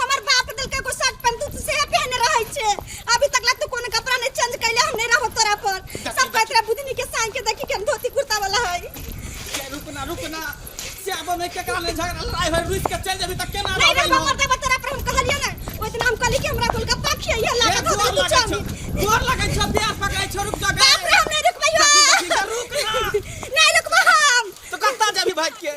हमर बाप देलकै एगो शर्ट पैंट तू से पहने रहै छे अभी तक ला तू कोनो कपड़ा नहीं चेंज कैले हम नहीं रहो तोरा पर सब कहत रहे बुधनी के सांग के देखी के हम धोती कुर्ता वाला है ये रुक ना रुक ना से अब में केकरा ले झगड़ा लड़ाई होई रुक के चल जेबी त केना नहीं रहबै रहो हम मरते तोरा पर हम कहलिए ना ओइ दिन हम कहली कि हमरा गोलगप्पा खियाइए ये लागत हो गोर तू लगे छौ चामी गोर लगे छौ पैर पकड़े छौ रुक जा बाप रे हम नहीं रुकबै हो देखी, देखी, रुक ना। नहीं रुकबै हम तो कत्ता जेबी भाग के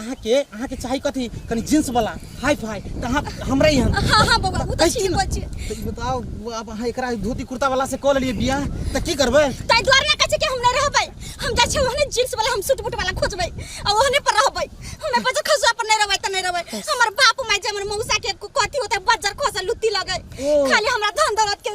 अहाँ के अहाँ के चाही कथी कनी जींस वाला हाई फाई त अहाँ हमरा यहाँ हाँ हाँ बबुआ वो तो कैसे ठीक ना? बच्चे तो ई बताओ वो अब अहाँ एकरा धोती कुर्ता वाला से कॉल लिए बियाह त की करबै ताई द्वार ना कहे कि हम नहीं रहबै हम जा छे ओहने जींस वाला हम सूट बूट वाला खोजबै आ ओहने पर रहबै हमें बजर खसुआ पर नहीं रहबै त नहीं रहबै हमर बाप माय जे हमर मौसा के कथी होते बजर खसा लुत्ती लगे ओ। खाली हमरा धन दौलत के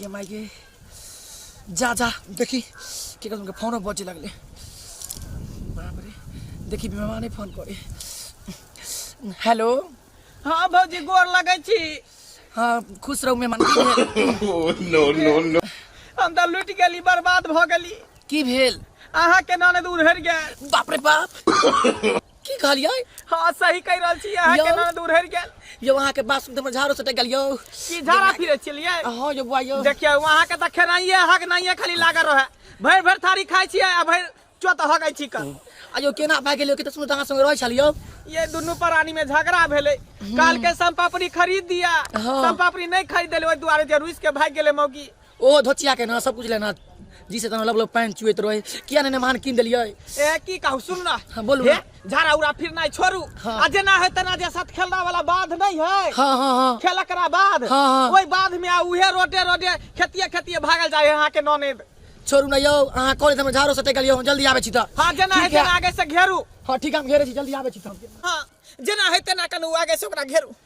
ये माय गे जा जा देखी के तुमके फोनो बजे लगले बाप रे देखी बीमा नहीं फोन करे हेलो हाँ भौजी गोर लगै छी हाँ खुश रहू मेहमान नो नो नो हम तऽ लुटि गेली बर्बाद भऽ गेली की भेल अहाँके नानद उड़हरि गेल बाप रे बाप की कहलियै हाँ सही कहि रहल छी अहाँ यौ। केना दूर हरि गेल यौ अहाँके बात सुनते हमर झाड़ो सटक गेल यौ की झाड़ा फिरे चलिए हँ यौ बुआ यौ देखियौ अहाँ के तऽ खेनाइए अहाँ के नाइए खाली लागल रहे भरि भरि थारी खाइ छियै आ भरि चोत हगै छी कऽ आ यौ केना भए गेल यौ कते सुनत अहाँ संगे रहै छल यौ ये दुनू प्राणी में झगड़ा भेलै काल के सम पापड़ी खरीद दिया हाँ। सम पापड़ी नहीं खरीद देले ओहि दुआरे जे रुस के भाग गेले मौगी ओ धोतिया के ना सब कुछ लेना जी से तना लब लब पैंट चुएत रहे किया ने मान किन देलिए ए की कहू सुन ना हाँ, बोलू हे, ना। झाड़ा उड़ा फिर नहीं छोड़ू हाँ। आ जेना है तना जे साथ खेलना वाला बाध नहीं है हाँ हाँ हाँ खेल करा बाद हाँ, हाँ। ओहि बाद में आ उहे रोटे रोटे खेतिए खेतिए भागल जाए यहाँ के ननेद छोड़ू ना यौ अहाँ कॉलेज हम झाड़ो सटे गेलिए हम जल्दी आबे छी त हाँ जेना है ठीक है। तेना आगे से घेरू हाँ ठीक है हम घेरे छी जल्दी आबे छी त हम हाँ जेना है तेना कनु आगे से ओकरा घेरू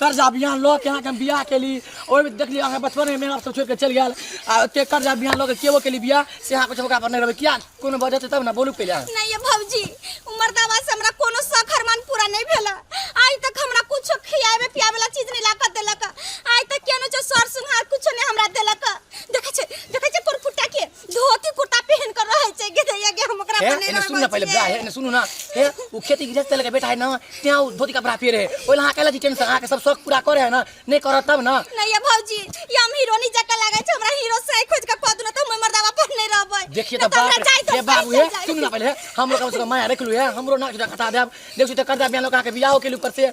कर्जा बिहान लऽ के अहाँके हम बियाह केली ओहिमे देखली अहाँके बचपनमे मेरा सब छोड़ि कऽ चलि गेल आ ओते कर्जा बिहान लऽ के केबो केली बियाह से अहाँ कुछ मौका पर नहि रहबै किया कोनो वजह छै तब ने बोलू पहिले अहाँ। नहीं ये भौजी उमर दावा से हमरा कोनो सखर मन पूरा नहीं भेला आज तक हमरा कुछ खियावे पियावे ला चीज नहीं लाकर देलक आज तक केनो जो सर सुनहार कुछ नहीं हमरा देलक देखे छे देखे छे कोन फुटा के धोती कुर्ता पहन कर रहे छै के दैया के हम ओकरा हे बने एने सुन ना पहिले बा हे एने सुनू ना हे उ खेती गिरज चले के बेटा है ना त्या उ धोती कपड़ा फेर है ओला हां केला जी टेंशन आके सब शौक पूरा करे है ना नहीं करत तब ना नहीं ये भौजी ये हम हीरो नहीं जका लागे छै हमरा हीरो से खोज के कह दुना त हम मर्दावा पर नहीं रहबै देखिए तो बाप रे, हे बाबू हे सुन ना पहिले हम लोग कम से कम माया रख लू हे हमरो ना जुड़ा कटा देब देखियो तो कर दे बियान लोग आके बियाह के लिए ऊपर से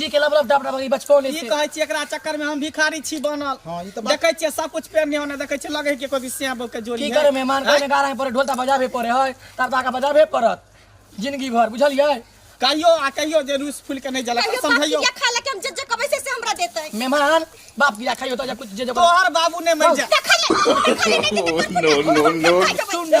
जी के लब लब डब डब ई बचपन की कहै छी एकरा चक्कर में हम भिखारी छी बनल हां ई त देखै छी सब कुछ पेन नहीं होने देखै छी लगे के कोई सिया बो के जोड़ी की करे मेहमान के ने गारा पर ढोलता बजाबे पड़े है तब ताका बजाबे पड़त जिंदगी भर बुझलिए कहियो आ कहियो जे रूस फूल के नहीं जला समझाइयो के खा लेके हम जे जे कबै से हमरा देतै मेहमान बाप गिरा खाइयो त कुछ जे जे तोहर बाबू ने मर जा नो नो नो सुन ना